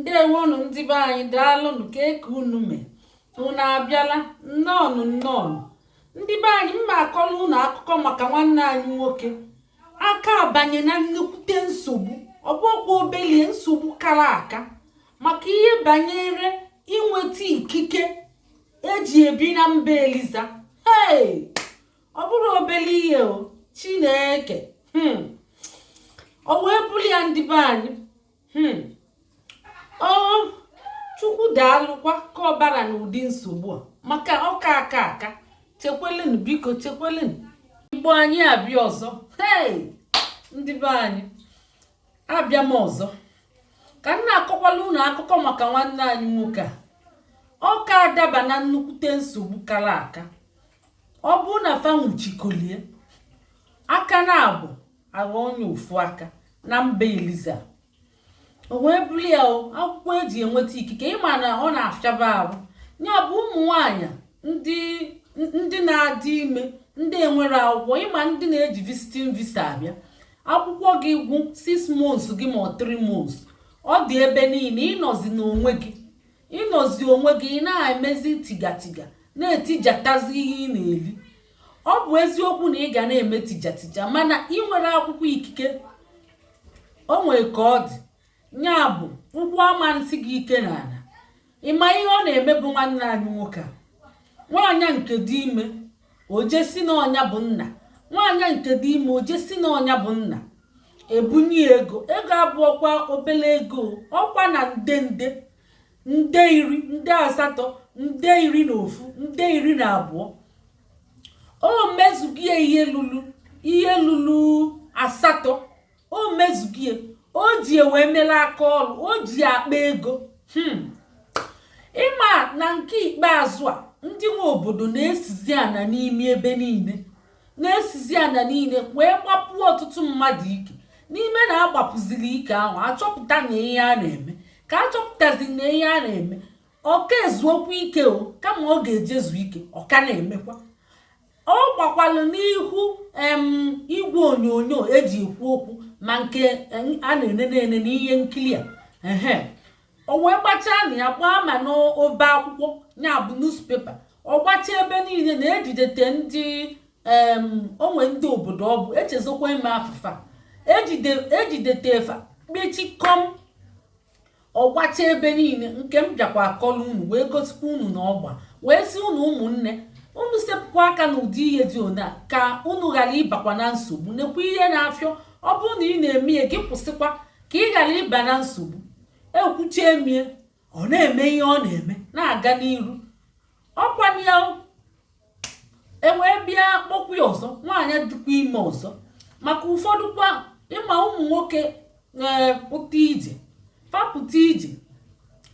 ndewonụ ndị be anyị daalụnụ kee ka unu mee unu abịala nnọọnụ nnọọnụ ndị be anyị m ma akọlụ unu akụkọ maka nwanne anyị nwoke a ka abanye na nnukwute nsogbu ọ bụọkwa obelie nsogbu kara aka maka ihe banyere inweta ikike eji ebi na mba eliza ee ọ bụrọ obele ihe o chineke hmm. o wee bụrụ ya ndị be anyị hmm. ọ chukwu daalụkwa ka ọ bara n'ụdị nsogbu a maka ọ ka aka aka chekwelenụ biko chekwelenụ igbo anyị abịa ọzọ hey ndị be anyị abịa m ọzọ ka m na-akọkwalụ unu akụkọ maka nwanne anyị nwoke a ọ ka adaba na nnukwute nsogbu kara aka ọ bụ na fa nwụchikolie aka naabọ aghọ onye ofu aka na mba eliza o wee bụrụ ya akwụkwọ eji enweta ikike ị ma na ọ na-afịaba arụ ya bụ ụmụ nwanyị ndị na-adị ime ndị enwerọ akwụkwọ ị ma ndị na-eji visiting visa abịa akwụkwọ gị gwụ 6 months gị ma ọ 3 months ọ dị ebe niile ị nọzi n'onwe gị ị nọzi n'onwe gị ị na-emezi tijatija na-etijatazi ihe ị na-eli ọ bụ eziokwu na ị ga na-eme tijatija mana i nwerọ akwụkwọ ikike o nwere ka ọ dị ya bụ ụkwụ ama na-esi gị ike n'ana ị ma ihe ọ na-emebu nwanne anyị nwoke a nwaanyị nke dị ime o je sị na ọ nya bụ nna nwaanyị nke dị ime o je sị na ọ nya bụ nna e bunye ego ego abụọkwa obele ego ọkwa na nde nde nde iri nde asatọ nde iri na ofu nde iri na abụọ o mezugie ihe lulu ihe lulu asatọ o mezugie o ji wee melụ aka ọrụ o ji akpa ego hmm. ị ma na nke ikpeazụ a ndị nwe obodo na-esizi ana n'ime ebe niile na-esizi ana niile wee gbapuo ọtụtụ mmadụ ike n'ime na a gbapuziri ike ahụ a chọpụta na ihe a na-eme ka a chọpụtazi na ihe a na-eme ọ ka ezuọkwa ike o kama ọ ga-eje zu ike ọ ka na-emekwa ọ gbakwalụ n'ihu em igwe onyonyo eji ekwu okwu ma nke a na-enene ene n'ihe nkiri a ehe o wee gbachaa na ya gbaa ma n'obe akwụkwọ ya bụ newspaper ọ gbachaa ebe niile na e jidete ndị onwe ndị obodo ọ bụ echezokwa ime afụfa e jidete fa kpechikọm ọ gbachaa ebe niile nke m bịakwa akọlụ unu wee gosikwa unu na ọ gba wee sị unu ụmụnne unu sepụkwa aka na ụdị ihe dị ona ka unu ghara ịbakwa na nsogbu nekwa ihe na-afịọ ọ bụrụ na ị na-eme ya gị kwụsịkwa ka ị ghara ịba na nsogbu ekwucha emie ọ na-eme ihe ọ na-eme na-aga n'iru ọkwa ya ewee bịa kpọkwa ya ọzọ nwaanyị dịkwa ime ọzọ maka ụfọdụ kwa ịma ụmụ nwoke ee pụta ije fa pụta ije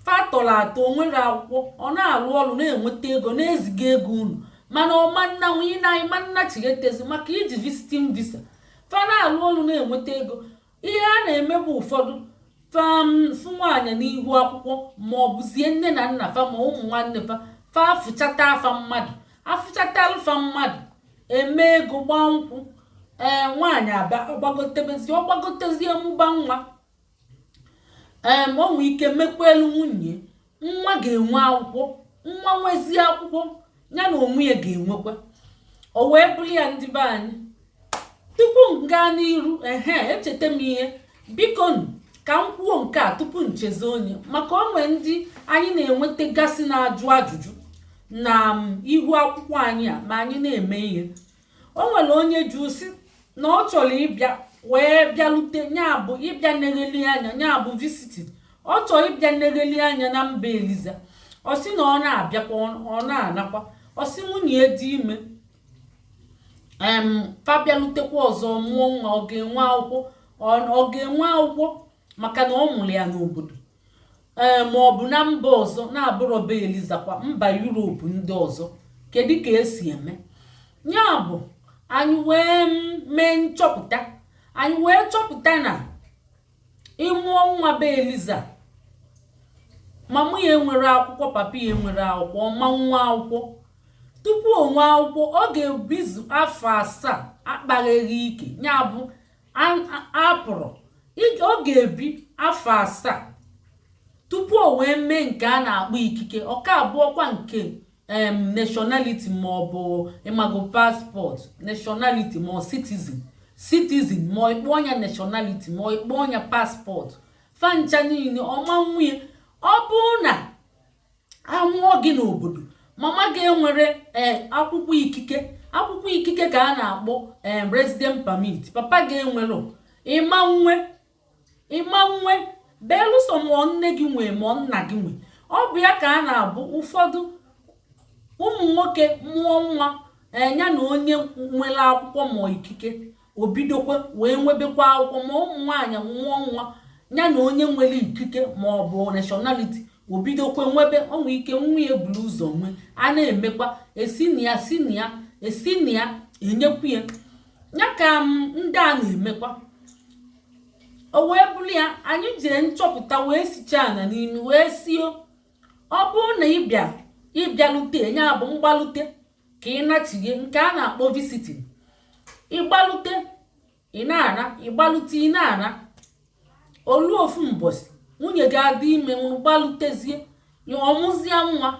fa tọrọ atọ o nwerọ akwụkwọ ọ na-arụ ọrụ na-enweta ego na-eziga ego ụnọ mana ọ ma nna nwunye na anyị ma nna chighetezi maka iji visiting visa fa na-arụ ọrụ na-enweta ego ihe a na-eme bụ ụfọdụ fa fụ nwaanyị n'ihu akwụkwọ ma ọ bụzie nne na nna fa ma ụmụ nwanne fa fa afụchata fa mmadụ afụchatalụ fa mmadụ emego ịgba nkwụ ee nwaanyị aba ọ gbagotebezie ọ gbagotezie mụba nwa ee ma ọ nwee ike mekwuelu nwunye nwa ga-enwe akwụkwọ nwa nwezie akwụkwọ ya na onwe ya ga-enwekwa o wee bụrụ ya ndị be anyị tupu m gaa n'iru ehe echeta m ihe biko ka m kwuo nke a tupu m chezọọ nya maka o nwere ndị anyị na-enwetagasị na-ajụ ajụjụ na um, ihu akwụkwọ anyị a ma anyị na-eme ihe o nwere onye jụ sị na ọ chọrọ ịbịa wee bịalute ya bụ ịbịa negheli anya ya bụ visiting ọ chọọ ịbịa negheli anya na be eliza ọ sị na ọ na-abịakwa ọ na-anakwa ọ sị nwunye dị ime em fa bịalutekwa ọzọ mụọ nwa ọ ga-enwe akwụkwọ ọ ga-enwe akwụkwọ maka na ọ mụrụ ya n'obodo ee ma ọ bụ na mba ọzọ na-abụrọ be elizakwa mba yuropu ndị ọzọ kedu ka esi eme ya bụ anyị wee mee nchọpụta anyị wee chọpụta na ị mụọ nwa be eliza mama ya enwerọ akwụkwọ papa ya enwerọ akwụkwọ ọ ma nwe akwụkwọ tupu o nwee akwụkwọ ọ ga-ebizu afọ asaa akpagheghị ike ya bụ apụrọ ọ ga-ebi afọ asaa tupu o wee mee nke a na-akpọ ikike ọ ka abụrọkwa nke em nationality ma ọ bụ ị mago paspọtụ nationality ma ọ citizen citizen ma ọ ị kpọọ nya nationality ma ọ ị kpọọ nya paspọtụ fa ncha niile ọ ma nwe ya ọ bụrụ na a mụọ gị n'obodo mama gị enwerọ eh, akwụkwọ ikike akwụkwọ ikike ka a na-akpọ eh, resident permit papa gị enwerọ ị ma nwe ị ma nwe belụsọ ma ọ nne gị nwee ma ọ nna gị nwee ọ bụ ya ka a na-abụ ụfọdụ ụmụ nwoke mụọ nwa nya eh, na onye nwere akwụkwọ ma ọ ikike o bidokwa wee nwebekwa akwụkwọ ma ụmụ nwaanyị mụọ nwa ya na onye nwere ikike ma ọ bụ nationality o bidokwa nwebe o nwe ike nwa ya ebulu ụzọ nwe a na-emekwa esi na ya si na ya esi na ya enyekwu ya ya ka ndị a na-emekwa o wee bụrụ ya anyị jee nchọpụta wee sicha ana n'imi wee sị o ọ bụrụ na ị bịa ị bịalute ya bụ mgbalute ka ị nachighe nke a na-akpọ visiting ị gbalute ị na-anọ ị gbalute ị na-anọ o lu ofu mbọsị nwunye gị adị ime gbalutezie ọ mụzie nwa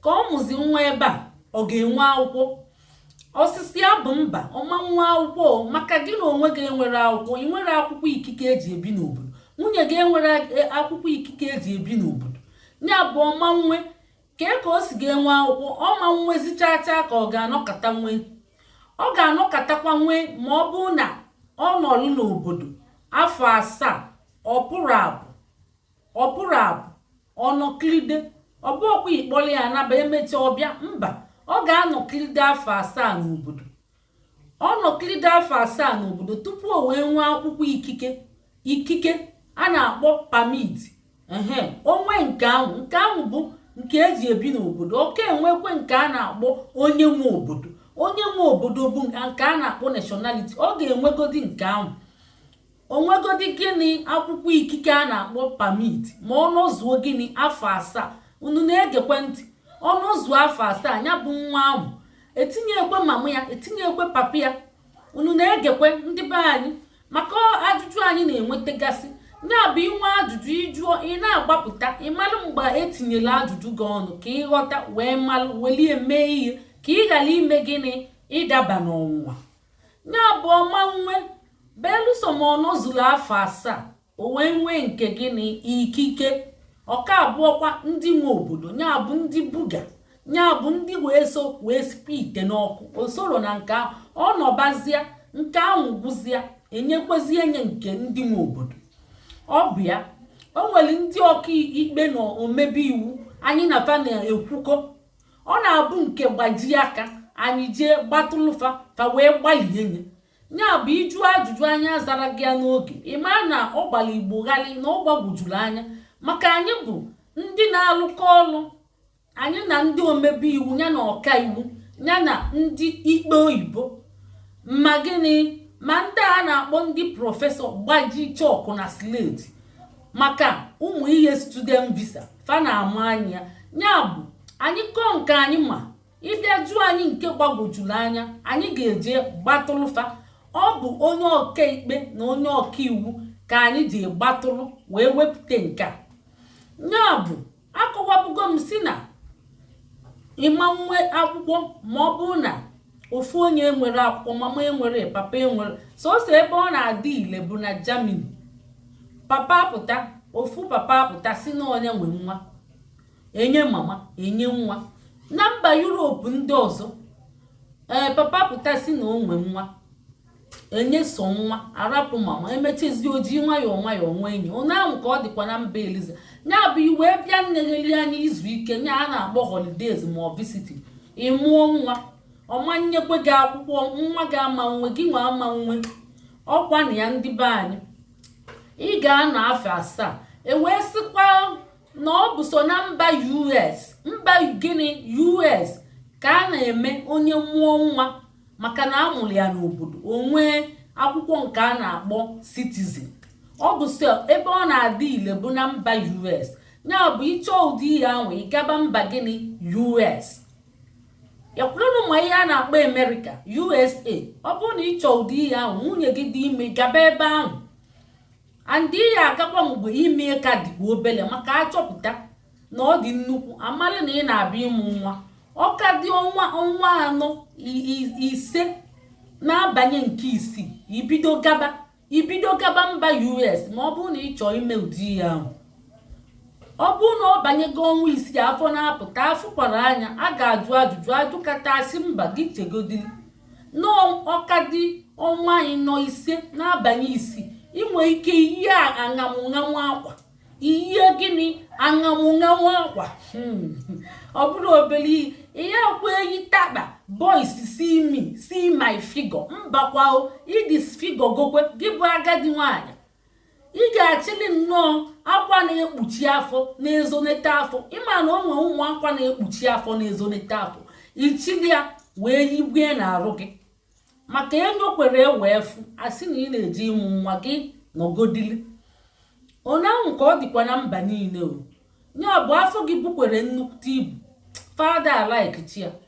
ka ọ mụzi nwa ebe a ọ ga-enwe akwụkwọ ọsịsa ya bụ mba ọ ma nwe akwụkwọ maka gị na onwe gị enwerọ akwụkwọ ị nwerọ akwụkwọ ikike eji ebi n'obodo nwunye gị enwerọ e, akwụkwọ ikike eji ebi n'obodo ya bụ ọ ma nwe kee ka o si ga-enwe akwụkwọ ọ ma nwezi chaa chaa ka ọ ga-anọkata nwee ọ ga-anọkatakwa nwee ma ọ bụrụ na ọ nọrụ n'obodo afọ asaa ọ pụrọ apụ ọ pụrọ apụ ọ nọkilide ọ bụọkwa ị kpọrọ ya naba emecha ọ bịa mba ọ ga-anọkilide afọ asaa n'obodo ọ nọkilide afọ asaa n'obodo tupu o wee nwee akwụkwọ ikike ikike a na-akpọ permit ehe o nwee nke ahụ nke ahụ bụ nke eji ebi n'obodo ọ ka enwekwe nke a na-akpọ onye nwe obodo onye nwe obodo bụ nke a na-akpọ nationality ọ ga-enwegodi nke ahụ o nwegodi gịnị akwụkwọ ikike a na-akpọ permit ma ọ nọzuo gịnị afọ asaa unu na-egekwe ntị ọ nọzuo afọ asaa ya bụ nwa ahụ etinyekwe mama ya etinyekwe papa ya unu na-egekwe ndị be anyị maka ajụjụ anyị na-enwetagasị ya bụ ị nwee ajụjụ ị jụọ ị na-agbapụta ị malụ mgbe etinyela ajụjụ gị ọnụ ka ị ghọta wee malụ weli ya mee ihe ka ị ghara ime gịnị ịdaba n'ọnwụnwa ya bụ ọ ma nwe belusọ ma ọ nọzuru afọ asaa o wee nwee nke gịnị ikike ọ ka abụọkwa ndị nwe obodo ya bụ ndị buga ya bụ ndị wee so wee sibe ite n'ọkụ o sorọ na nke ahụ ọ nọbazịa nke ahụ gwụzịa enyekwezie nye nke ndị nwe obodo ọ bụ ya o nwere ndị ọka ikpe na omebe iwu anyị na fa na-ekwukọ ọ na-abụ nke gbajie aka anyị jee gbatụlụ fa fa wee gbalie nye ya bụ ị jụọ ajụjụ anyị azarọ gị ya n'oge ị maa na ọ gbara Igbo gharị na ọ gbagwojuru anya maka anyị bụ ndị na-alụkọ ọlụ anyị na ndị omebe iwu ya na ọka iwu ya na ndị ikpe oyibo ma gịnị ma ndị a na-akpọ ndị professor gbaji chọkụ na sleti maka ụmụ ihe student visa fa na-ama anya ya bụ anyị kọọ nke anyị ma ịbịa jụọ anyị nke gbagwojuru anya anyị ga-eje kpọtụlụ fa ọ bụ onye ọkaikpe na onye ọkaiwu ka anyị ji kpọtụrụ wee wepụta nke a ya bụ akọwabugo m sị na ị ma nwe akwụkwọ ma ọ bụrụ na ofu onye enwere akwụkwọ mama enwere papa enwere sọsọ ebe ọ na-adị ile bụ na Germany papa apụta ofu papa apụta sị na ọ nya nwe nwa e nye mama e nye nwa na mba yuropu ndị ọzọ ee papa pụta sị na o nwe nwa e nye so nwa a rapụ mama emechizi o jii nwayọọ nwayọọ nwa enye onye ahụ ka ọ dịkwa na mba eliza ya bụ i wee bịa nnegheli anya izu ike ya a na-akpọ holidays ma ọ visiti ị mụọ nwa ọ ma nyekwe gị akwụkwọ nwa gị ama nwe gịnwa ama nwe ọ kwa nya ndị be anyị ị ga-anọ afọ asaa e wee sịkwa na ọ bụ so na mba us mba gịnị us ka a na-eme onye mụọ nwa maka na a mụrụ ya n'obodo o nwee akwụkwọ nke a na-akpọ citizen ọ bụ so ebe ọ na-adị ile bụ na mba us ya bụ ị chọọ ụdị ihe ahụ ị gaba mba gịnị us yakwurenụ ma ihe a na-akpọ amerịka usa ọ bụrụ na ị chọọ ụdị ihe ahụ nwunye gị dị ime gaba ebe ahụ and ị ya-agakwa mgbe ime ka dịkwa obele maka a chọpụta na ọ dị nnukwu a malị na ị na-abịa ịmụ nwa ọ ka dị ọnwa anọ ise na-abanye nke isii i bido gaba i bido gaba mba us ma ọ bụrụ na ị chọọ ime ụdị ihe ahụ ọ bụrụ na ọ banyego ọnwa isii afọ na-apụta a fụkwara anya a ga-ajụ ajụjụ a jụkata a sị mba gị chegodili na ọ ka dị ọnwa ịnọ ise na-abanye isii i nwe ike iyi aṅamụṅamụ akwa ihe gịnị aṅamụṅamụ akwa hmm. ọ bụrụ obere ihe ihe akwa eyi taba boys see me see my figure mbakwa o idis figure gokwe gị bụ agadi nwanyị ị ga-achịli nnọọ akwa na-ekpuchi afọ na-ezonete afọ ị ma na o nwee ụmụ akwa na-ekpuchi afọ na-ezonete afọ ị chịlị ya wee yigwe n'arụ gị maka e nyokwere wee fụ a sị na ị na-eje ịmụ nwa gị nọgodili onye ahụ ka ọ dịkwa na mba niile o ya bụ afọ gị bukwere nnukwu ibu fada alaikchi ya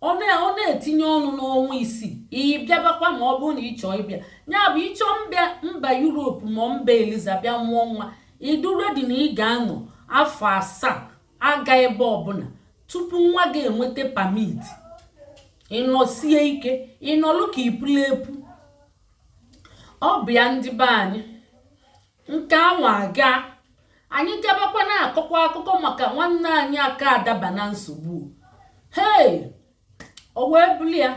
ọ na-etinye ọnụ n'ọnwa isii ị bịabakwa ma ọ bụrụ na ị chọọ ịbịa ya bụ ị chọọ mbịa mba yuropu ma mba eliza bịa mụọ nwa ị dụ ready na ị ga-anọ afọ asaa aga ebe ọbụla tupu nwa gị enweta permit ị nọsie ike ị nọlụ ka i pulu epu ọ bụ ya ndị be anyị nke anwa aga anyị gabakwa na-akọkwa akụkọ maka nwanne anyị aka adaba na nsogbu hei o wee bụrụ ya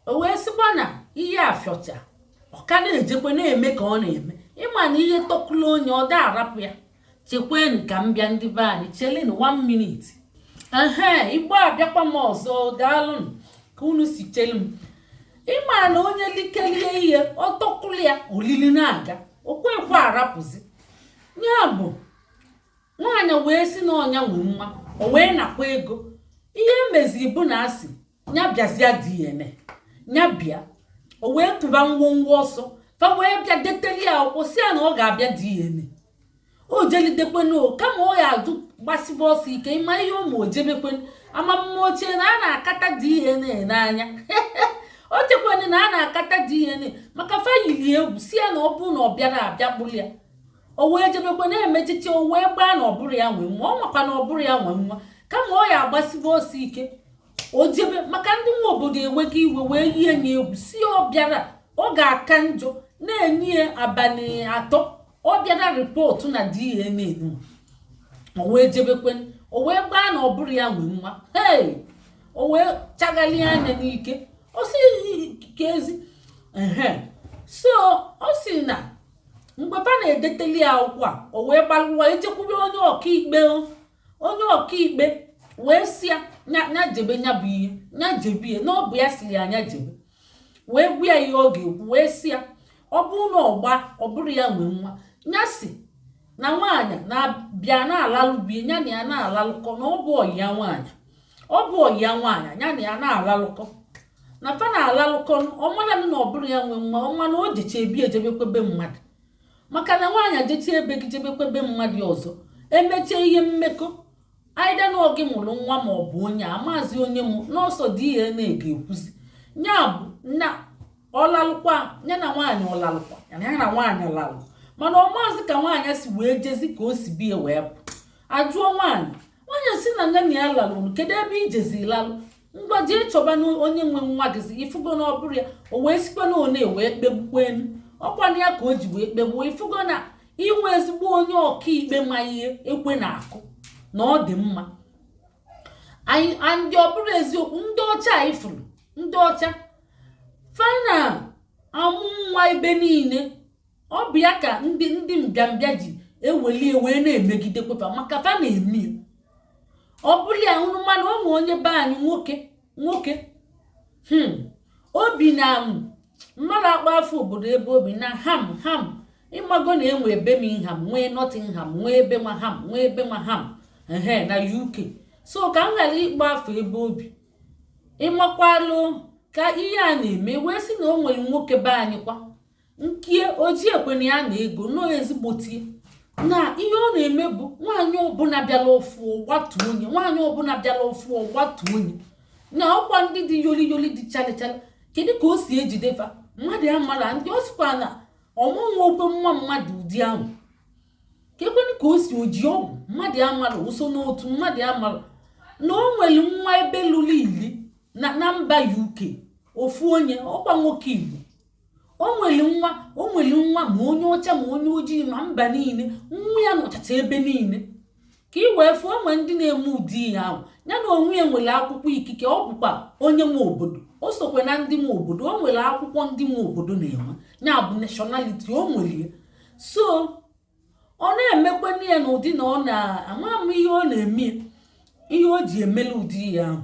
o wee sịkwa na ihe afịọcha ọ ka na-ejekwa na-eme ka ọ na-eme ị ma na ihe tọkụla onye ọ da-arapụ ya chekwenụ ka m bịa ndị be anyị chelenu one minute ehe igbo abịakwa m ọzọ daalụnụ ka unu si chelu m ị ma na onye likelie ihe ọ tọkụlụ ya olili na-aga o kwekwe arapụzi nya bụ nwaanyị wee si na ọ nya nwe nwa o wee nakwa ego ihe meziri bụ na a sị nya bịazịa DNA nya bịa o wee tụba ngwongwo ọsọ fa wee bịa deteli ya akwụkwọ si ya na ọ ga-abịa DNA o jelidekwenu kama ọ ya adụ gbasiba ọsọ ike ị ma ihe ụmụ o jebekwenu ama m ma o che na a na-akata DNA n'anya o chekwenu na a na-akata DNA maka fa yiri egwu si ya na ọ bụrụ na ọ bịarọ a bịa kpụrụ ya o wee jebekwe na-emechiche o wee gbaa na ọ bụrọ ya nwe nwa ọ makwa na ọ bụrọ ya nwe nwa kama ọ ya agbasiba ọsọ ike o jebe maka ndị nwe obodo ewego iwe wee yie nya egwu si ọ bịarọ ọ ga-aka njọ na-enye ya abalị atọ ọ bịarọ report na DNA o wee jebekwe o wee gbaa na ọ bụrọ ya nwe nwa ee o wee chagharị anya n'ike ọ sị ka ezi so ọ sị na mgbe fa na-edeteli ya akwụkwọ a o wee gbalụ wee jekwube onye ọkaikpe onye ọkaikpe wee si ya nya jebe nya bụ ihe nya jebe ihe na ọ bụ ya siri ya nya jebe wee gwa ya ihe ọ ga-ekwu wee si ya ọ bụrụ na ọ gbaa ọ bụrọ ya nwe nwa nya si na nwaanyị na-abịa na-alalụ be nya na ya na-alalụkọ na ọ bụ ọyị ya nwaanyị ọ bụ ọyị ya nwaanyị nya na ya na-alalụkọ na fa na-alalụkọ ọ mananụ na ọ bụrọ ya nwe nwa ọ ma na o jecha be ya jebekwa be mmadụ maka na nwaanyị jecha ebe gị jebekwa ebe mmadụ ọzọ emecha ihe mmekọ either na ọ gị mụrụ nwa ma ọ bụ onye amazị onye mụ na ọ sọ DNA ga-ekwuzi nya bụ na ọ lalụkwa ya na nwaanyị ọ lalụkwa ya na nwaanyị ọ lalụ mana ọ maazị ka nwaanyị si wee jezi ka o si be ya wee pụ a jụọ nwaanyị nwaanyị si na nya na ya lalụrụ kedu ebe i jezi lalụ ngwa jee chọbanụ onye nwe nwa gịzi i fugo na ọ bụrọ ya o wee sikwa na one wee kpegbukwenu ọ kwanụ ya ka o ji wee kpegbuo i fugo na i nwe ezigbo onye ọkaikpe ma ihe ekwe na-akụ na ọ dị mma ndị ọ bụrụ eziokwu ndị ọcha anyị fụrụ ndị ọcha fa na-amụ nwa ebe niile ọ bụ ya ka ndị ndị mbịambịa ji eweli wee na-emegide kịta maka fa na-eme ọ bụrụ a rumour na o nwee onye be anyị nwoke nwoke hmm. o bi na mmadụ akpọ afa obodo ebe o bi na ham ham ịmago na e nwee birmingham nwee nottingham nwee ebe nwa ham nwee ebe nwa ham ehe na uk so ka m ghara ịkpọ afa ebe o bi ị makwalụ ka ihe a na-eme wee sị na o nwere nwoke be anyị kwa nkie o ji ekwe na ya na ego nọ ezigbotie na ihe ọ na-eme bụ nwaanyị ọbụla bịara ọfụ ọ gbatuo nye nwaanyị ọbụla bịara ọfụ ọ gbatuo nye na ọkwa ndị dị yoli yoli dị chalichala kedu ka o si ejide fa mmadụ amara na ọ sịkwa na ọmụnwa okwe nwa mmadụ ụdị ahụ kekwanụ ka o si o ji ọgwụ mmadụ amara o so n'otu mmadụ amara na o nwere nwa ebe lulu ili na mba uk ofu onye ọkwa nwoke igbo o nwere nwa o nwere nwa ma onye ọcha ma onye ojii ma mba niile nwa ya nọchacha ebe niile ka ị wee fụ o nwee ndị na-eme ụdị ihe ahụ ya na onwe ya nwere akwụkwọ ikike ọ bụkwa onye nwe obodo o sokwe na ndị nwe obodo o nwere akwụkwọ ndị nwe obodo na-enwe ya bụ nationality o nwere ya so ọ na-emekwana ya n'ụdị na ọ na ama m ihe ọ na-eme ihe o ji emela ụdị ihe ahụ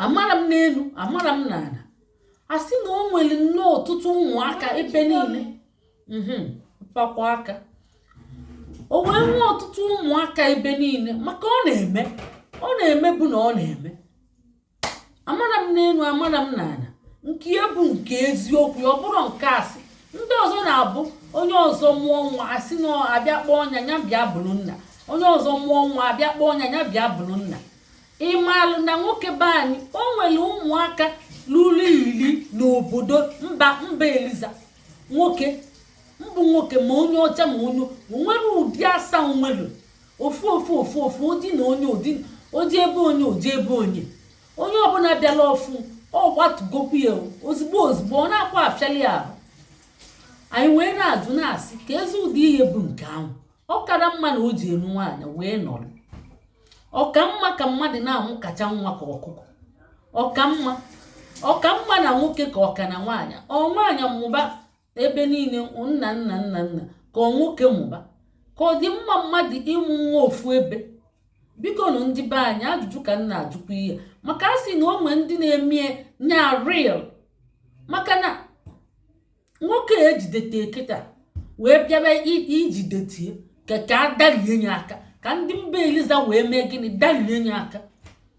amara m n'elu amara m n'ala a sị na o nwere nnọọ ọtụtụ ụmụaka ebe niile mhm, pakwa aka o wee nwee ọtụtụ ụmụaka ebe niile maka ọ na-eme ọ na-eme bụ na ọ na-eme amara m n'elu amara m n'ala nke ya bụ nke eziokwu ọ bụrụ nke asị ndị ọzọ na-abụ onye ọzọ mụọ nwa a sị na a bịa kpọọ onye a ya bịa bụrụ nna onye ọzọ mụọ nwa a bịa kpọọ onye a ya bịa bụrụ nna ị malụ na nwoke be anyị o nwere ụmụaka ruru iri n'obodo mba mba eliza nwoke mbụ nwoke ma onye ọcha ma onye nwere ụdị asaa nwere ofu ofu ofu ofu ụdị na onye ụdị o ji ebe onye o ji ebe onye onye ọbụla bịala ọfụ ọ gbatugokwu ya ozugbo ozugbo ọ naakwa afịali ya ahụ anyị wee na-ajụ na-asị keezi ụdị ihe bụ nke ahụ ọ kara mma na o ji elu nwaanyị wee nọrọ ọ ka mma ka mmadụ na-amụkacha nwa ka ọkụkọ ọ ka mma ọ ka mma na nwoke ka ọ ka na nwaanyị ọ nwaanyị mụba ebe niile nna nna nna nna ka ọ nwoke mụba ka ọ dị mma mmadụ ịmụ nwa ofu ebe biko nụ ndị be anyị ajụjụ ka m na-ajụkwa ihe maka a sị na o nwee ndị na-eme nya real maka na nwoke e jidete kịta wee bịara ijidetie ka ka a darie nye aka ka ndị mba eliza wee mee gịnị darie nye aka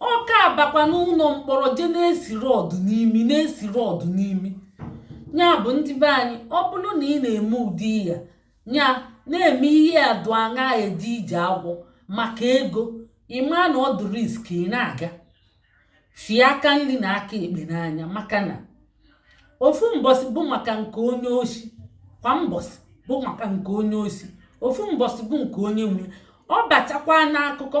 ọ ka abakwa n'ụlọ mkpọrọ je na-esi rod n'imi na-esi rod n'imi nya bụ ndị be anyị ọ bụrụ na ị na-eme ụdị ya ya na-eme ihe adụ aṅa eje ije agwọ maka ego ị ma na ọ dị risk ị na-aga fie aka nri na aka ekpe n'anya maka na ofu mbọsị bụ maka nke onye oshi kwa mbọsị bụ maka nke onye oshi ofu mbọsị bụ nke onye nwe ọ bachakwa n'akụkọ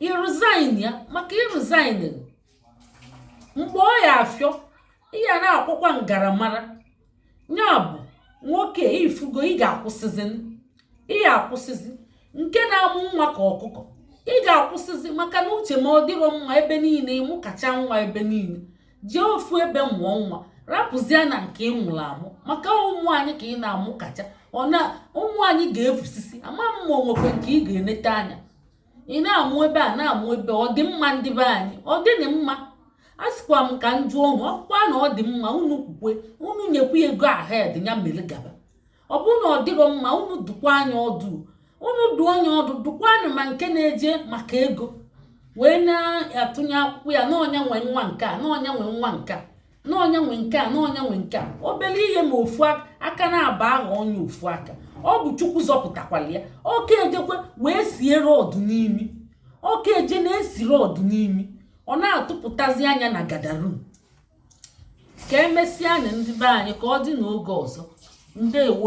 ị resign ya maka ị resign mgbe ọ ya-afịọ ị ya na-akwụkwa ngaramara nya bụ nwoke ifugo ị ga-akwụsịzi ị ga-akwụsịzi nke na-amụ nwa ka ọkụkọ ị ga-akwụsịzi maka n'uche m ọ dịrọ mma ebe niile ị mụkacha nwa ebe niile jee ofu ebe mụọ nwa rapụzie na nke ị mụrụ amụ maka ụmụ anyị ka ị na-amụkacha ọ na ụmụ anyị ga-efusisi ama m ma o nwekwe nke ị ga-enete anya ị na-amụ ebe a na-amụ ebe ọ dị mma ndị be anyị ọ dịnị mma a sịkwa m ka m jụọ unu ọ bụkwa na ọ dị mma unu kwukwe unu nyekwa ya go ahead ya mere gaba ọ bụrụ na ọ dịrọ mma unu dụkwa nya ọdụ unu dụọ nya ọdụ dụkwanị ma nke na-eje maka ego wee na-atụnye akwụkwọ ya na ọ nya nwe nwa nke a na ọ nya nwe nwa nke a na ọ nya nwe nke a na ọ nya nwe nke a obere ihe ma ofu aka na-aba aha onye ofu aka ọ bụ chukwu zọpụtakwara ya ọ ka ejekwe wee sie rod n'imi ọ ka eje na-esi rod n'imi ọ na-atụpụtazi anya na gadarum ka emesịanụ ndị be anyị ka ọ dị n'oge ọzọ ndewo